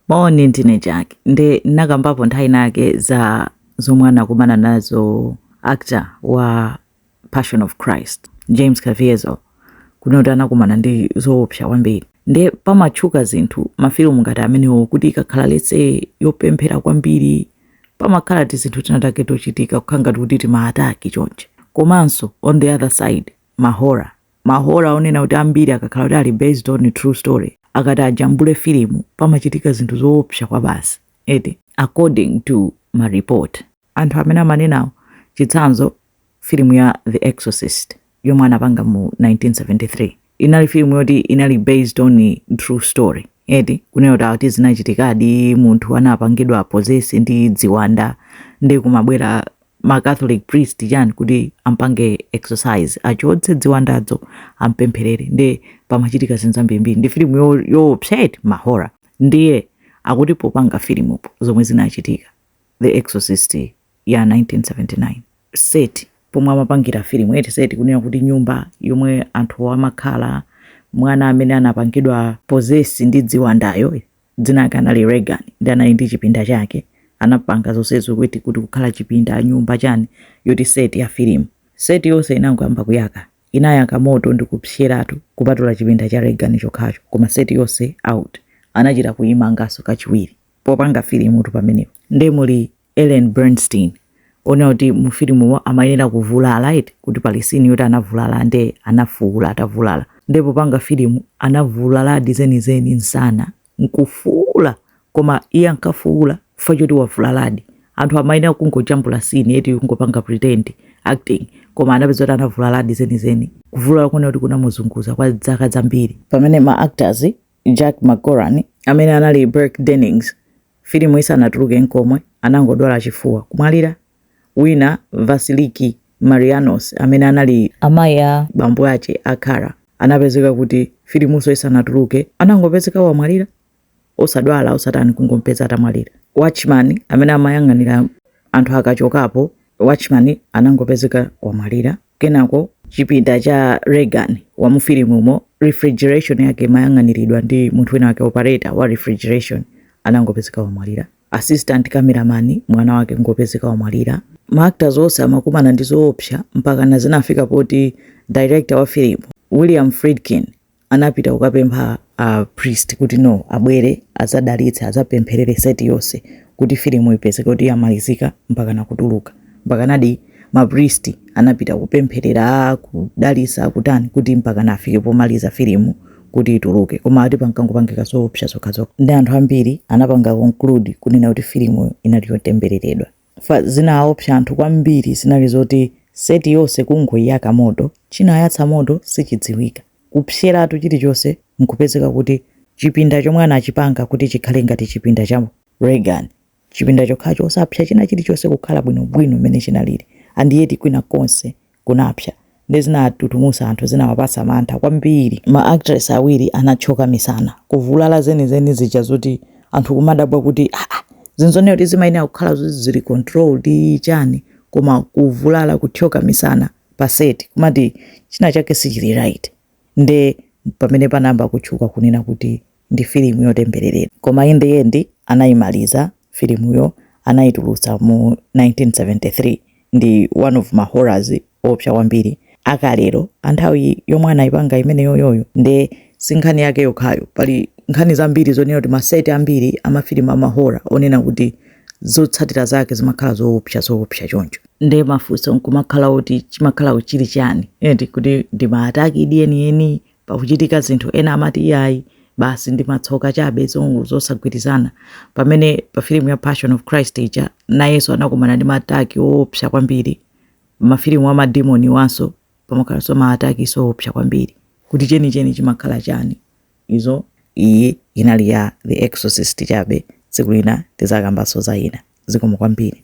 Moni, ndine Jack. Nde nakambapo nthawi inayake za zomwe anakumana nazo actor wa Passion of Christ, James Caviezel, kunena kuti anakumana ndi zoopsa kwambiri. Nde pamatchuka zinthu mafilimu ngati amenewo kuti ikakhala letse yopemphera kwambiri pamakhala tizinthu tina take tochitika kukhala ngati kuti timaataki chonchi. Komanso on the other side mahora mahora onena kuti ambiri akakhala kuti ali based on true story akati ajambule filimu pamachitika zinthu zoopsa kwabasi eti according to ma report anthu amene amanenawo chitsanzo filimu ya the exorcist yomwe anapanga mu 1973 inali filimu yoti inali based on true story eti kunena kuti akuti zinachitikadi munthu anapangidwa possess ndi ziwanda ndi kumabwera ma catholic priest chani kuti ampange exorcise achotse ziwandazo ampempherere nde pamachitika zinthu zambirimbiri ndi filimu yoopsa eti mahora ndiye akuti popanga filimu zomwe zinachitika the exorcist ya 1979 seti pomwe amapangira filimu eti seti kunena kuti nyumba yomwe anthu amakhala mwana amene anapangidwa possess ndi ziwandayo dzina lake anali Regan nde anali ndi chipinda chake anapanga zonsezo kuti kuti kukhala chipinda nyumba chani yoti seti ya filimu seti yonse inangoyamba kuyaka inayaka moto ndi kupseratu kupatula chipinda cha Regan chokhacho koma seti yonse out anachita kuyimanganso kachiwiri popanga filimutu pamenepo nde muli Ellen Burstyn onena kuti mu filimumo amayenera kuvulala eti kuti pali scene yoti anavulala nde anafuula atavulala nde popanga filimu anavulaladi zenizeni msana n'kufuula koma iye ankafuula chifukwa choti wavulaladi anthu amayenera kungojambula scene eti kungopanga pretend acting koma anapeza kuti anavulaladi zenizeni kuvulala konena kuti kunamuzunguza kwa zaka zambiri pamene ma actors Jack MacGowran amene anali Burke Dennings Filimu isanatuluke n'komwe, anangodwala chifuwa, kumwalira. Wina, Vasiliki Maliaros, amene anali amayi a bambo aja a Karras, anapezeka kuti filimunso isanatuluke anangopezeka wamwalira. Osadwala, osatani, kungom'peza atamwalira. Watchman, amene amayang'anira anthu akachokapo, watchman anangopezeka wamwalira. Kenako, chipinda cha Regan wa mufilimumo, refrigeration yake imayang'aniridwa ndi munthu winawake, operator wa refrigeration anangopezeka wamwalira, assistant cameraman mwana wake anangopezeka wamwalira. Ma actors onse amakumana ndi zoopsa mpakana zinafika poti director wa filimu, William Friedkin, anapita kukapempha a priest kuti no abwere adzadalitse adzapempherere seti yonse kuti filimu ipezeke kuti yamalizika mpaka nakutuluka mpaka nadi ma priest anapita kupempherera kudalitsa kutani kuti mpaka nafike pomaliza filimu kuti ituluke koma ati pankangopangika zoopsa zokhazokha ndi anthu ambiri anapanga conclude kunena kuti filimuyo inali yotembereredwa Zinaopsa anthu kwambiri zinali zokuti set yonse kungoyaka moto, chinayatsa moto sichidziwika. Kupseratu chilichonse nkupezeka kuti chipinda chomwe anachipanga kuti chikhale ngati chipinda cha Regan, chipinda chokhacho osapsa china chilichonse kukhala bwinobwino mmene chinalili and yet kwina konse kunapsa nde zinatutumusa anthu zinawapasa mantha kwambiri ma actress awiri anathyoka misana kuvulala zenizeni zija zoti anthu kumadabwa kuti aah zinthu zonena kuti zimayenera kukhala zoti zili controlled chani koma kuvulala kuthyoka misana pa set kumati china chake sichili right nde pamene panayamba kutchuka kunena kuti ndi filimu yotembereredwa. Koma in the end anaimaliza filimuyo, anaitulutsa mu 1973. Ndi one of ma horror oopsa kwambiri a kalelo. A nthawi yomwe anaipanga imeneyoyoyo nde si nkhani yake yokhayo. Pali nkhani zambiri zonena kuti ma set ambiri a mafilimu a ma horror onena kuti zotsatira zake zimakhala zoopsa zoopsa choncho. Nde mafunso n'kumakhala oti chimakhala chili chiyani eti, kuti ndi ma attack di enieni, pakuchitika zinthu, ena amati iyayi, basi ndi matsoka chabe, zongo zosagwirizana. Pamene pa filimu ya Passion of Christ ija, nayenso anakumana ndi ma attack oopsa kwambiri. Mafilimu a madimoni awanso pamakhalanso ma attacks oopsa kwambiri. Kuti chenicheni chimakhala chani? Izo iyi inali ya The Exorcist chabe. Tsiku lina tizakambanso za ina. Zikomo kwambiri.